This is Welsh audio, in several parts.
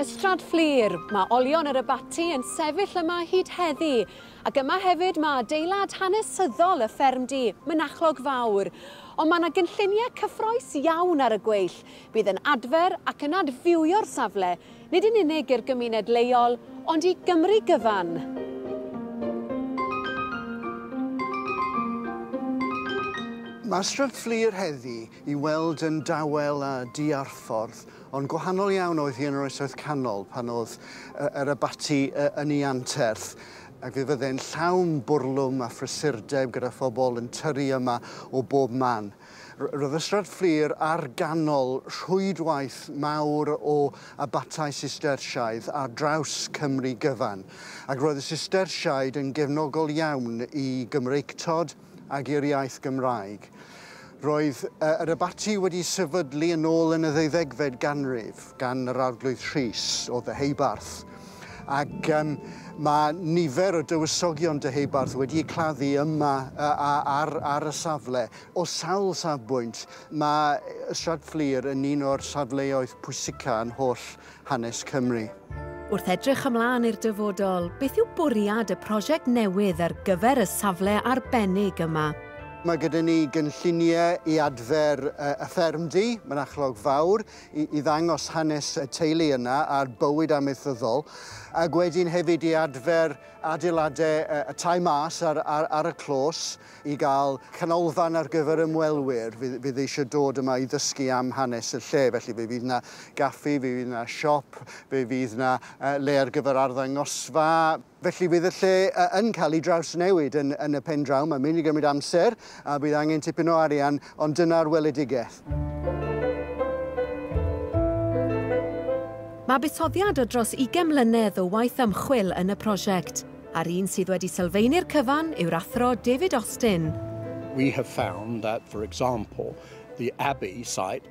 Ystrad Fflur, mae olion yr abaty yn sefyll yma hyd heddi, ac yma hefyd mae adeilad hanesyddol y ffermdy, Mynachlog Fawr. Ond mae yna gynlluniau cyffroes iawn ar y gweill. Bydd yn adfer ac yn adfywio'r safle Nid yn unig i'r gymuned leol, ond i Gymru gyfan! Mae Stryd Fflur heddi i weld yn dawel a diarffordd, ond gwahanol iawn oedd hi yn yr Oesoedd Canol pan oedd yr abaty yn ei anterth, ac fe fydde'n llawn bwrlwm a phrysurdeb gyda phobl yn tyrru yma o bob man. Roedd y Strad Fflur ar ganol rhwydwaith mawr o abatai Sistersiaidd ar draws Cymru gyfan, ac roedd y Sistersiaid yn gefnogol iawn i Gymreictod ac i'r iaith Gymraeg. Roedd yr abaty wedi sefydlu yn ôl yn y ddeuddegfed ganrif gan yr Arglwydd Rhys o Ddeheubarth, Ac um, mae nifer o dywysogion dyheubarth wedi eu claddu yma uh, ar, ar y safle. O sawl safbwynt, mae Stradflir yn un o'r safleoedd pwysica yn holl hanes Cymru. Wrth edrych ymlaen i'r dyfodol, beth yw bwriad y prosiect newydd ar gyfer y safle arbennig yma? Mae gyda ni gynlluniau i adfer y ffermdy, mynachlog fawr, i ddangos hanes y teulu yna a'r bywyd amaethyddol, ac wedyn hefyd i adfer adeiladau y tai mas ar, ar, ar y clos i gael canolfan ar gyfer ymwelwyr fydd, fydd eisiau dod yma i ddysgu am hanes y lle. Felly fe fydd yna gaffi, fe fydd yna siop, fe fydd yna le ar gyfer arddangosfa, Felly bydd y lle yn cael ei drawsnewid yn, yn y pen draw. Mae'n mynd i gymryd amser a bydd angen tipyn o arian, ond dyna'r weledigaeth. Mae buddsoddiad o dros 20 mlynedd o waith ymchwil yn y prosiect, a'r un sydd wedi sylfaenu'r cyfan yw'r athro David Austin. We have found that, for example, the Abbey site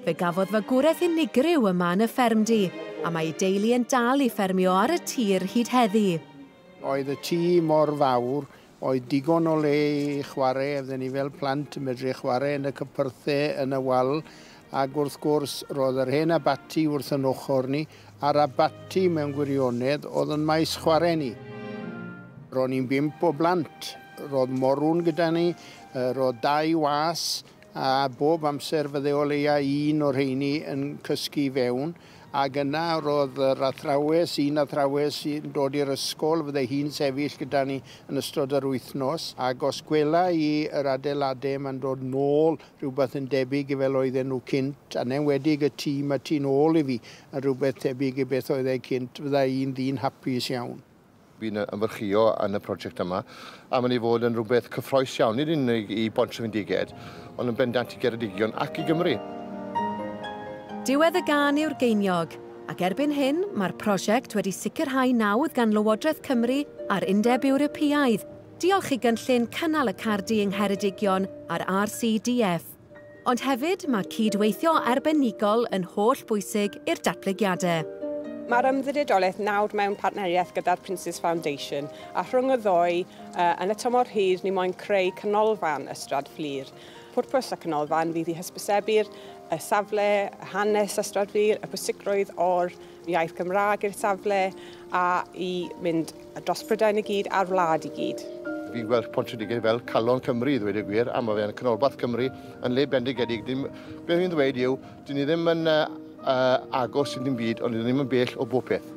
Fe gafodd fagwraeth unigryw yma yn y ffermdy, a mae ei deulu yn dal i ffermio ar y tir hyd heddi. Oedd y tŷ mor fawr, oedd digon o le i chwarae, oedden ni fel plant yn medru chwarae yn y cypyrthau, yn y wal, ac wrth gwrs, roedd yr hen abaty wrth yn ochr ni, a'r abaty, mewn gwirionedd, oedd yn maes chwarae ni. Ro'n ni'n bump o blant, roedd morw'n gyda ni, roedd dau was, a bob amser fydde o leia un o'r rheini yn cysgu i fewn, ac yna roedd yr athrawes, un athrawes yn dod i'r ysgol, fydde hi'n sefyll gyda ni yn ystod yr wythnos, ac os gwela i yr adeilade yma'n dod nôl rhywbeth yn debyg i fel oedden nhw cynt, yn enwedig y tŷ 'ma tu'n ôl i fi, yn rhywbeth tebyg i beth oedd e cynt, fydda i'n ddyn hapus iawn. Fi'n ymfyrchio yn y prosiect yma a mae'n ei fod yn rhywbeth cyffroes iawn, nid yn unig i Bont Trefyndiged, ond yn bendant i Geredigion ac i Gymru. Diwedd y gân yw'r geiniog, ac erbyn hyn mae'r prosiect wedi sicrhau nawdd gan Lywodraeth Cymru a'r Undeb Ewropeaidd, diolch i gynllun Cynnal y Cardy yng Ngheredigion a'r RCDF. Ond hefyd, mae cyd-weithio arbenigol yn holl bwysig i'r datblygiadau. Mae'r ymddiriedolaeth nawr mewn partneriaeth gyda'r Prince's Foundation, a rhwng y ddou, yn y tymor hir, ni moyn creu canolfan Ystrad Fflur. Pwrpas y canolfan fydd i hysbysebu'r safle, hanes Ystrad Fflur, y pwysigrwydd o'r iaith Gymraeg i'r safle a i mynd dros Brydain i gyd a'r wlad i gyd. Fi'n gweld Pontypridd fel calon Cymru i ddweud y gwir a mae fe'n canolbarth Cymru yn le bendigedig. Dim, beth fi'n ddweud yw, dyn ni ddim yn uh, uh, agos i ddim byd ond dyn ni ddim yn bell o bob peth.